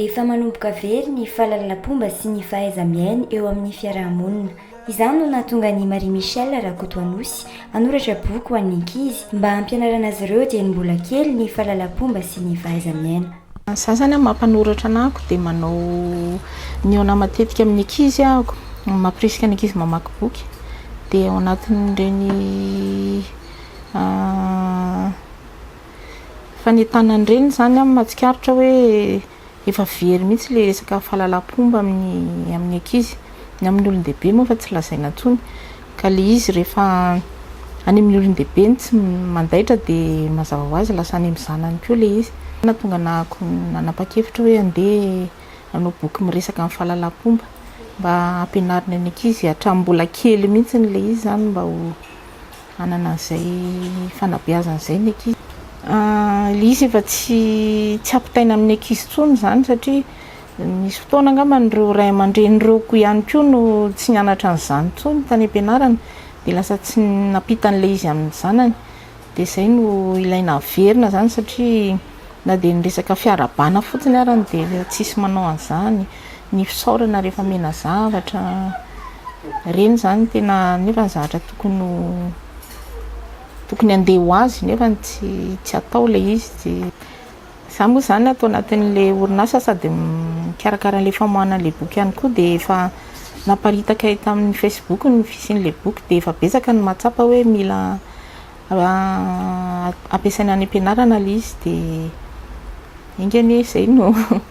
Efa manomboka very ny fahalalapomba sy ny fahaiza-miaina eo amin'ny fiaraha-monina. Izany no nahatonga an'i Marie Michelle Rakotoanosy hanoratra boky ho an'ny ankizy mba hampianarana azy ireo dieny mbola kely ny fahalalapomba sy ny fahaiza-miaina. Za zany mampanoratra anako dia manao mihaona matetika amin'ny ankizy aho, mampirisika ny ankizy mamaky boky dia ao anatin'ireny fanentanana ireny zany aho mahatsikaritra hoe efa very mihitsy ilay resaka fahalalam-pomba amin'ny ankizy, ny amin'ny olon-dehibe moa efa tsy lazaina intsony. Ka le izy rehefa any amin'ny olon-dehibe no tsy mandaitra de mazava ho azy lasa any amin'ny zanany koa le izy. Nahatonga anahako nanapa-kevitra hoe andeha hanao boky miresaka amin'ny fahalalam-pomba mba hampianarina ny ankizy hatramin'ny mbola kely mihitsy le izy zany mba ho hanana an'izay fanabeazana izay ny ankizy. Le izy efa tsy tsy ampitaina amin'ny ankizy intsony zany satria. Nisy fotoana angamba ireo ray aman-dreny ireo koa ihany koa no tsy nianatra an'izany intsony tany am-pianarana dia lasa tsy nampita an'ilay izy amin'ny zanany dia izay no ilaina averina izany satria na dia ny resaka fiarahabana fotsiny ary dia tsisy manao an'izany, ny fisaorana rehefa omena zavatra, ireny izany tena nefa ny zavatra tokony ho tokony handeha ho azy nefa tsy tsy atao ilay izy. Za moa zany ato anatin'le orinasa sady mikarakara an'le famoahana an'le boky ihany koa dia efa naparitaka eto amin'ny facebook ny fisian'le boky dia efa betsaka ny mahatsapa hoe mila ampiasaina any am-pianarana le izy dia enga anie zay no